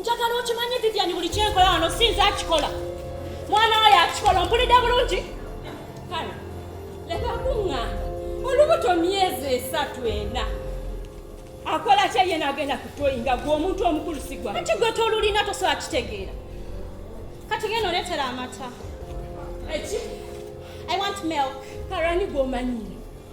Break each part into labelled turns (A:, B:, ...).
A: njagala okimanye vivian buli kyenkola wano sinza akikola mwana wayo akikola ompulidde bulungi kale leka kuŋŋamba olubuto myezi esatu ena akola kye ye nagenda kutoyi nga gwe omuntu omukulu sigwa kati gwe tolulina tosobola kitegeera kati genda oletera amata eki i want milk karani gwomanyiire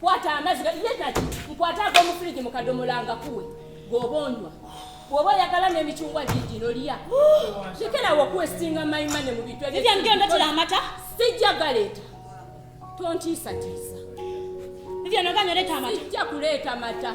A: kwata amazzi yetaki nkwata ag'omufirigi mu kadomola nga kuwe gwoba onywa bwoba oyagala n'emicungwa gigino lya lekerawo okuwestinga mayimane mu bintu ebyogendatira amata sijja galeeta tontiisatiisa sijja kuleeta mata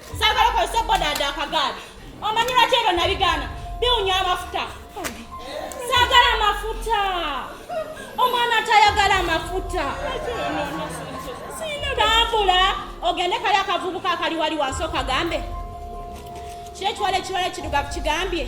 A: Sagala okozesa bodaada akagaali. Omanyi lwaki ebyo nabigaana? Biwunya amafuta. Sagala amafuta. Omwana atayagala amafuta. Tambula ogende kali akavubuka akali wali wansi okagambe. Kiri ekiwala ekiwala ekirugavu kigambye.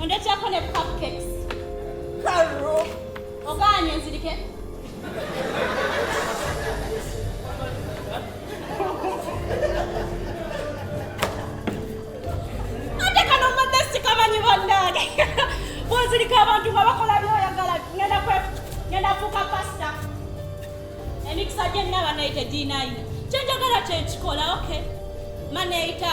A: Ondeteako ne cupcakes. Karo. Ogaanye nzirike. Ate kano mbadde sikamanyi bannange. Bwozirika abantu nga bakola byoyagala ngenda kwe ngenda fuuka pasita. Emikisa gye nnaba nayo tegirinayo. Kyenjagala kye nkikola, okay. Maneita.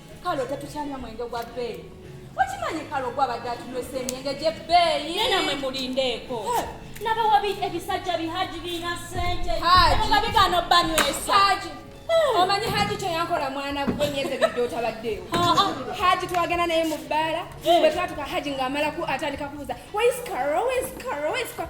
B: kalo tetukyanywa mwenge gwa bbeeyi okimanyi kalo gwabadde atunywesa emyenge gy'ebbeeyi nena mwe mulindeeko
A: nabawabi ebisajja bihaji birina sente nga bigaana
B: obbanywesa omanyi haji
C: kyeyankola mwana gwe myezi ebidde otabaddeewo haji twagenda naye mu bbaala bwe twatuka haji ng'amala atandika kubuuza waiskaro waiskaro waiskaro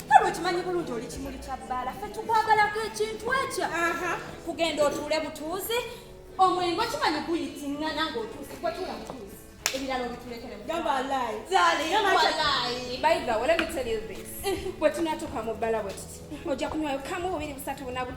C: kale okimanyi bulungi oli kimuli kya bbaala ffe tukwagalako ekintu ekyo kugenda otuule butuuzi omwengo kimanyi guyitingana ng'otuuzi kwetula butuuzi ebirala obitulekeremubyebwe tunatuuka mu bbala bwe tuti ojja kunywayo kamu bubiri busatu bunabu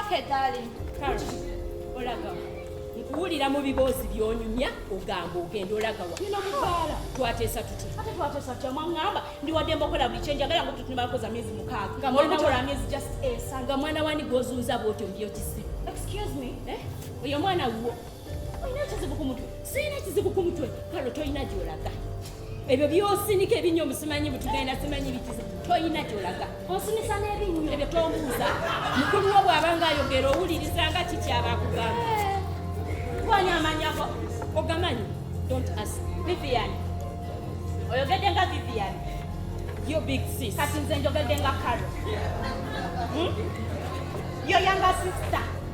A: Okay, darling. Olaga. Nkuwulira mu biboozi by'onyumya ogamba ogenda olaga wa. Nina mukyala. Twateesa tutya? Ate twateesa tutya mwang'amba ndi wadde mbokola buli kye njagala nga tutuni bakoza myezi mukaaga. Nga mwana wa myezi just esa. Nga mwana wani gw'ozunza bw'otyo mbyo kisi. Excuse me. Eh? Oyo mwana wuwo. Olina ekizibu ku mutwe? Sirina ekizibu ku mutwe. Kalo tolina gy'olaga. Ebyo by'osinika ebinnyo musimanyi butugenda simanyi bikizibu. Tolina gy'olaga. Osinisa n'ebinnyo. Ebyo tombuuza. Mukulu wo bw'aba ng'ayogera owuliriza nga kiki aba akugamba. Gwani amanyako? Ogamanyi? Don't ask. Vivian. Oyogedde nga Vivian. Yo big sis. Kati nze njogedde nga Karo. Hmm? Yo younger sister.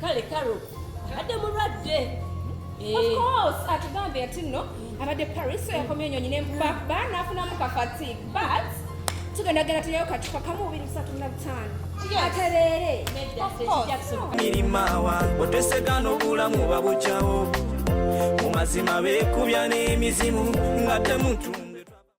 B: kale karo abadde mulwadde
C: atugambe ati nno abadde paris yakomye enyonyi nempaba nafunamu kafatig but tugenda genda tulyayo kacupa kamu bubiri busatu na butaano atereere mirimawa
D: otesega n'obulamu babujawo mu mazima beekubya n'emizimu nga temutu